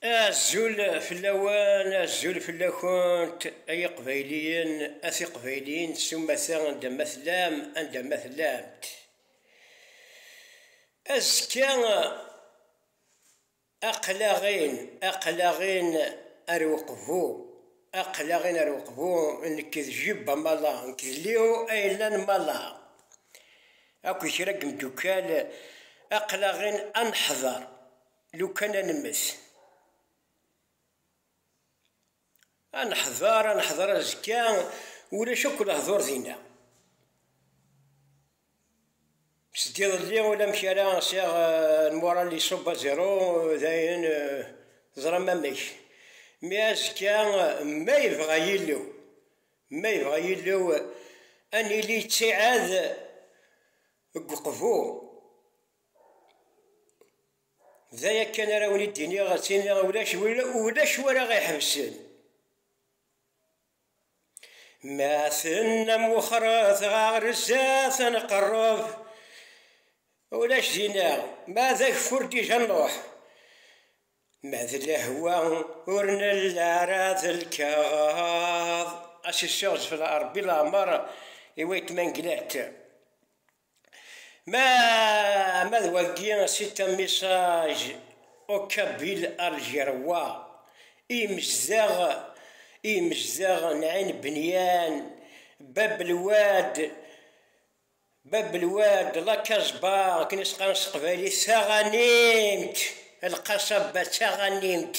Azul fell-awen, azul fell-akent, ay iqbayliyen, a tiqbayliyin s umata anda ma tellam, anda ma tellamt. Azekka aqlaɣin, aqlaɣin ar uqbu, aqlaɣin ar uqbu, nekk d Jibba Mala, nekk d Leo Aylan Mala, akked kra n yimeddukkal, aqlaɣin ad neḥḍer. Lukan ad nemmet. Ad neḥder, ad neḥder azekka, ulac akk lehdur dinna. Seg iḍelli ulamek ara sɛiɣ lmural iṣubb aziru, dayen teẓram amek. Mi azekka ma yebɣa Yillu, ma yebɣa Yillu ad nili ttiɛad deg uqbu D aya kan ara wen-id-iniɣ, ad tt-iniɣ ulac ulac wara ɣ-iḥebsen. Ma tennam wexret ɣer zdat ad nqerreb, ulac dinna, ma d ageffur dija nruḥ, ma d lehwa ur nelli ara d lkaɣeḍ. Asiseɣ zfel Rebbi leɛmer i waytma n Glert. Ma, ma d wagi si tamisaj Okkabil Aljerwa i yemezdaɣ, i yemezdaɣ n Ɛin Benyan, Bab Lwad, Bab Lwad, La Casba, akken i s-qqaren s teqbaylit, taɣanimt, Lqasaba d taɣanimt,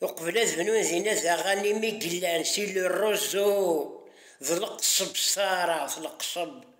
uqbel ad bnun dinna d aɣanim i yellan si Le Roseau d Leqseb s taɛrabt, Leqseb.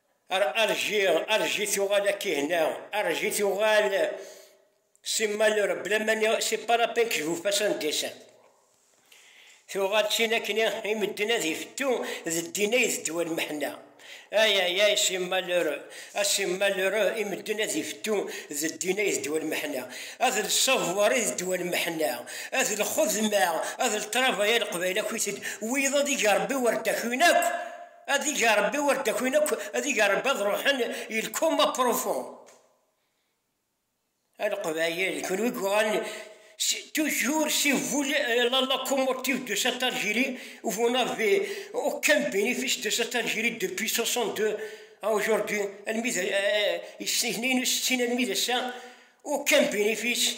Arji, arji tuɣal akki hna, arji tuɣal si malur, bla mani, si parapin k jufas an desan. Tuɣal d tin akken i medden ad ifettu d ddin ay d ddwa n meḥna. Ay ay ay si malur, a si malur i medden ad ifettu d ddin ay d ddwa n meḥna. Ad l savoir i d ddwa n meḥna, ad l xedma, ad l travailler leqbayel akk-it-ed, wiyaḍ ad ig Rebbi war dakk-iw-in akk. Ad ig Ṛebbi wer d-akin akk, ad ig Ṛebbi ad ṛuḥen il coma profond. A Leqbayel, kunwi yuɣalen toujours si vous la locomotive de cette Algérie où vous n'avez aucun bénéfice de cette Algérie depuis 62 à aujourd'hui, almi d is-nni n usettin almi d ass-a, aucun bénéfice.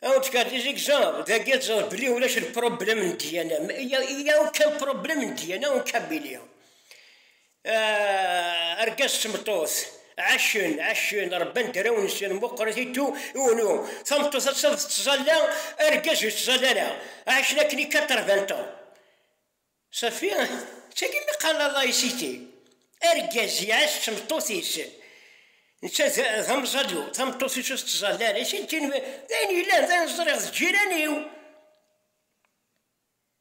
Aw tkad izigzag, dagi ad ẓer belli ulac lprublem n ddiyana, ya ukan prublem n ddiyana n Kabili. Argaz d tmeṭṭut, ɛacen, ɛacen, rebban draw-nsen, muqret i tu, i unu. Tameṭṭut ad taf tettẓalla, argaz ur yettẓalla ara. Ɛacen akken i 80 ans. Safi, d tagi mi qqaren Allah i Siti, argaz iɛac d tmeṭṭut-is, netta d amẓalu, tameṭṭut-is ur tettẓalla ara i Siti, d ayen yellan, d ayen ẓriɣ d ǧǧiran-iw,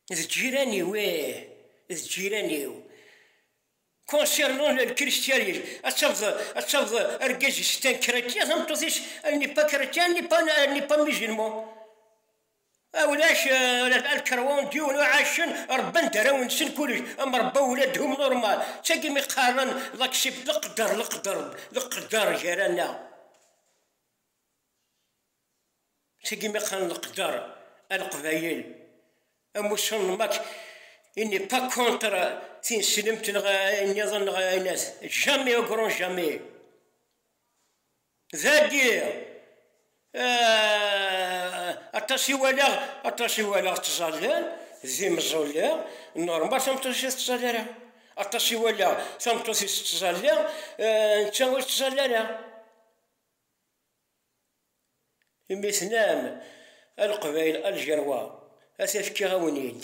d ǧǧiran-iw, ih, d ǧǧiran-iw, concernant le christianisme, ad tafeḍ, ad tafeḍ argaz-is est un chrétien, tameṭṭut-is elle n'est pas chrétienne, elle n'est pas musulmane. A ulac ula alkerwan diyun uɛacen rebban daraw-nsen kullec am rebba ula dhum normal ttagi mi qqaren d aksib leqder leqder leqder gar-aneɣ ttagi mi qqaren leqder a leqbayel am usunem ak il n'est pas contre tineslemt neɣ ayen niḍen neɣ ayen as jamais au grand jamais Dagi, aṭas i walaɣ, aṭas i walaɣ ttẓallan d imeẓẓulli, normal tameṭṭut-ik ur tettẓalla ara, aṭas i walaɣ tameṭṭut-is tettẓalla, netta ur yettẓalla ara. Imi tenam a Leqbayel, a Lǧerwa, ad t-fkiɣ-awen-id,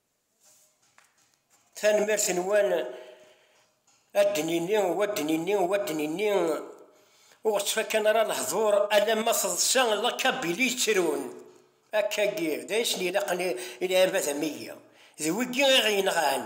Tanemmirt-nwen ad d-nini, wa ad d-nini, wa ad d-nini, ur ɣ-ttfakan ara lehdur alamma teḍsa lakabili yettrun. Akka-agi, d ayen i sen-ilaqen i lɛibad am wigi, d wigi i ɣ-yenɣan.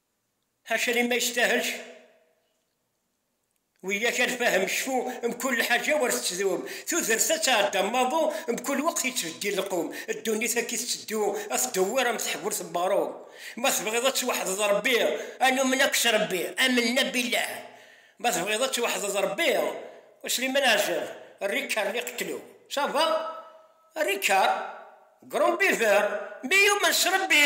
Acimi ma yestahelc wiyyak ad nfahem cfu mkul lḥaǧa war tettdum, tudert ad tɛedda maḍu mkul weqt yettbeddil lqum, ddunit akk i tetteddu ad tdewwir am teḥburt n weɣrum, ma tebɣiḍ ad tweḥdeḍ Rebbi ad numen akk s Rebbi, amen-na billah, ma tebɣiḍ ad tweḥdeḍ Rebbi u Sliman Ɛazem, Ricard Liqettlu, ça va? Ricard, grand buveur, mais yumen s Rebbi!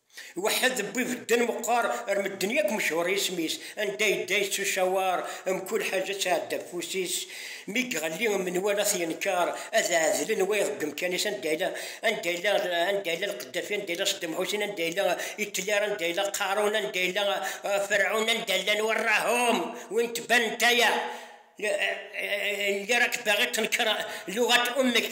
Iweḥḥed wwi bedden meqqar ar medden yakk mechuṛ yisem-is, anda yedda yettucawaṛ mkul ḥaǧa ţɛedda afus-is, mi gɣelli menwala t-yenkeṛ ad ɛedlen wayeḍ deg umkan-is anda yella anda yella anda yella lqeddafi anda yella Ṣeddam Ḥusin anda yella Itler anda yella Qarun anda yella Ferɛun anda llan warraḥum win tbanent aya lliɣ ak baɣi ţenkeṛ luɣat ummek.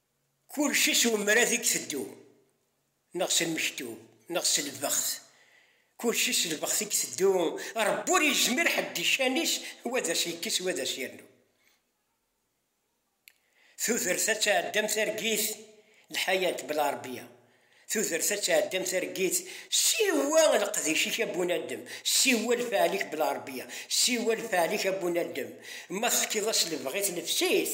Kulci s umrad i iteddu, neɣ s lmektub, neɣ s lbext. Kulci s lbext i iteddu, Rebbi ur yezmir ḥedd di ccan-is wa d as-yekkes wa d as-yernu. Tudert ad tɛeddi am targit, lḥayat bla Rebbi-a. Tudert ad tɛeddi am targit, siwa leqdic-ik a Bunadem, siwa lfeɛl-ik bla Rebbi-a, siwa lfeɛl-ik a Bunadem, ma tefkiḍ-as lebɣi tennefs-it,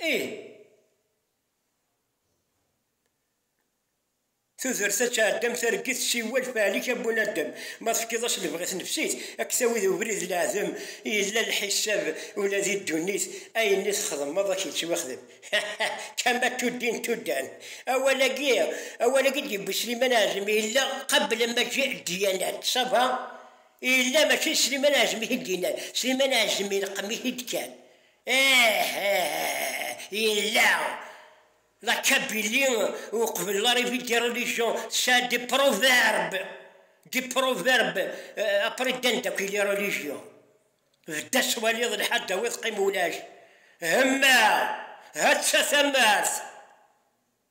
Ih. Tudert ad tɛeddam targit siwel fɛel-ik a bunadem, ma tefkiḍ-as lebɣi tnefsit a k-tawi di ubrid n leɛdem, yella lḥisab ula di ddunit ayen i txedmeḍ a k-yettwexdem hahah kama tuddin tuddan awal-agi awal-agi i d-yewwi Sliman Ɛazmi yella qabel a maǧi ddyanat sava yella mačči d Sliman Ɛazmi i t-id-yennan Sliman Ɛazmi ileqqem-it-id kan Ih, yella. La Kabylie ur qbilen ara ibid des religions, ça des proverbes, des proverbes, euh, après ddan daki les religions. Bda swaliḍ lḥal dawi teqqim ulac. Hemma, hatta tamart.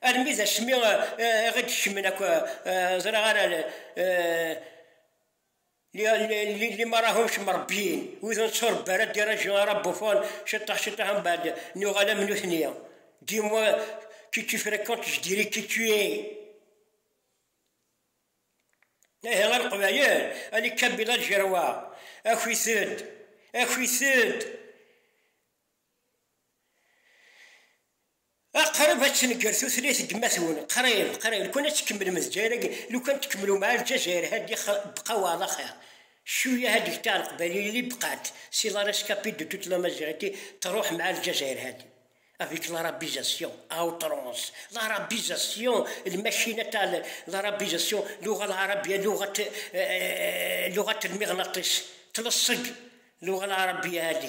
Armi d asmi i ɣ-id-kecmen akk, ẓriɣ ara limarahumc mrebbiyen, wid ur netturebbi ara ddiraju ara Buffon, ciṭṭaḥ ciṭṭaḥ ambaɛd nuɣal am nutni, dix mois que tu fréquentes je dirai qui tu es. Ihi a Leqbayel, a les Kabila Ljerwaɣ, aki-t-ed, aki-t-ed! Ah, qrib ad tenger tutlayt n yemma-twen, qrib, qrib, lukan ad tkemmlem Lezzayer-agi, lukan tkemmlum ar Lezzayer hadi bqa wa ala xir, cuyya hadi gta Leqbayliyin li bqant, si la rescapée de toute l'Amaziɣiti truḥ m'a Lezzayer hadi, avec l'arabisation, à outrance, l'arabisation, lmacina ta l'arabisation, luɣa lɛarabiya, luɣat, luɣat lmiɣnaṭis, tlesseǧ luɣa lɛarabiya hadi,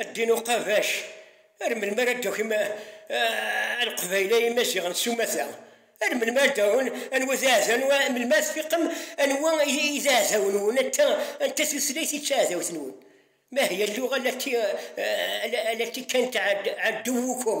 A ddin uqabac, ar melmi ara d-takim a leqbayel a imaziɣen s umata? Ar melmi ara d-tarum anwa i d aɛdawen, melmi ara tfiqem anwa i d aɛdawen-nwen, anta anta tutlayt i d taɛdawt-nwen? Ma hiya lluɣa allati allati kant aduwukum.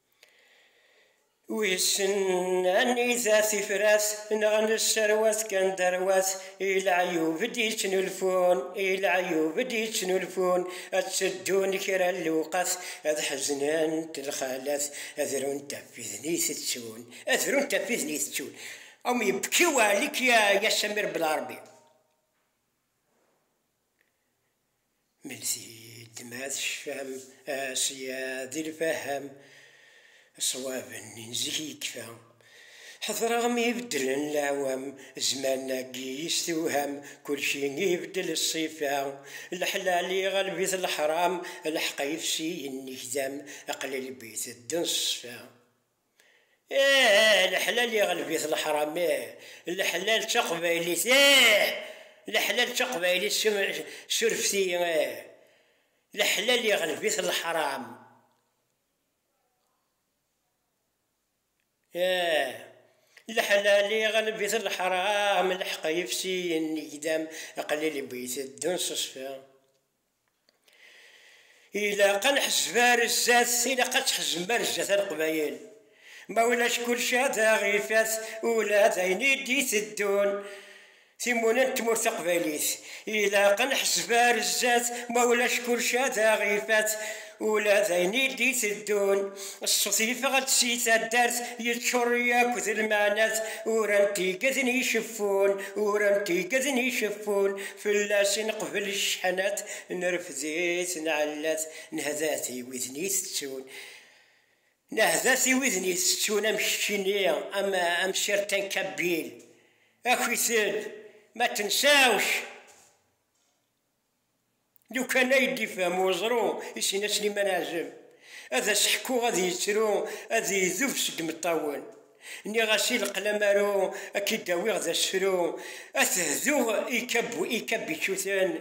Wissen anida tifrat neɣ nesserwat kan derwat i leɛyub i d-yettnulfun, i leɛyub i d-yettnulfun, ad teddun kra n lewqat, ad ḥeznent lxalat, ad runt ɣef widen i itettun, ad runt ɣef widen i itettun. Am yebki uɛlik ya Samir Belarbi. Melsi-d ma tecfam sya di lfaham, ṣṣwab n zik yekfa. Ḥedreɣ mi beddlen leɛwam, zzman-agi yestewham, kulci ibeddel ṣṣifa. Leḥlal iɣleb-it leḥram, lḥeqq ifsi yennek dam, qlil bi teddun ṣṣfa. Eeh leḥlal iɣleb-it leḥram eeh leḥlal d taqbaylit eeh leḥlal d taqbaylit surfet-iyi eeh leḥlal iɣleb-it leḥram eeh leḥlal iɣleb-it leḥram leḥq yefsi yenegdam qlil bu iteddun s uṣfi. Ilaq ad nḥezzeb ar zdat, ilaq ad tḥezzem ar zdat a Leqbayel. Ma ulac kulci ad aɣ ifat ula d ayen i d-iteddun. Timuna n tmurt taqbaylit. Ilaq ad nḥezzeb ar zdat, ma ulac kulci ad aɣ ifat. Ula d ayen i d-iteddun, ṣṣut yeffeɣ-d si taddart, yeččur yakk d lmeɛnat, uran-t igeden iceffun, uran-t igeden iceffun, fell-as i neqbel cceḥnat, nerfed-it nɛella-t, nehda-t i widen itettun, nehda-t i widen itettun am keččini, am am certains Kabyle, akk-iten, ma tensewc! Lukan ay d-ifhem weẓru i Sina Sliman Ɛzem, ad as-ḥkuɣ ad yettru, ad idub seg imeṭṭawen. Nniɣ-as i leql amaru ad k-id-awiɣ d asefru, ad t-hduɣ i ikabičuten,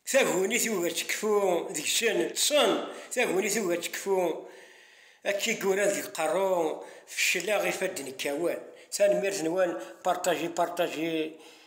taguni tugi ad tekfu deg-sen, ṭṭsen, taguni tugi ad tekfu, ad k-igura deg iqerru, fecleɣ, ifadden kkawen. Tanemmirt-nwen, partagez, partagez.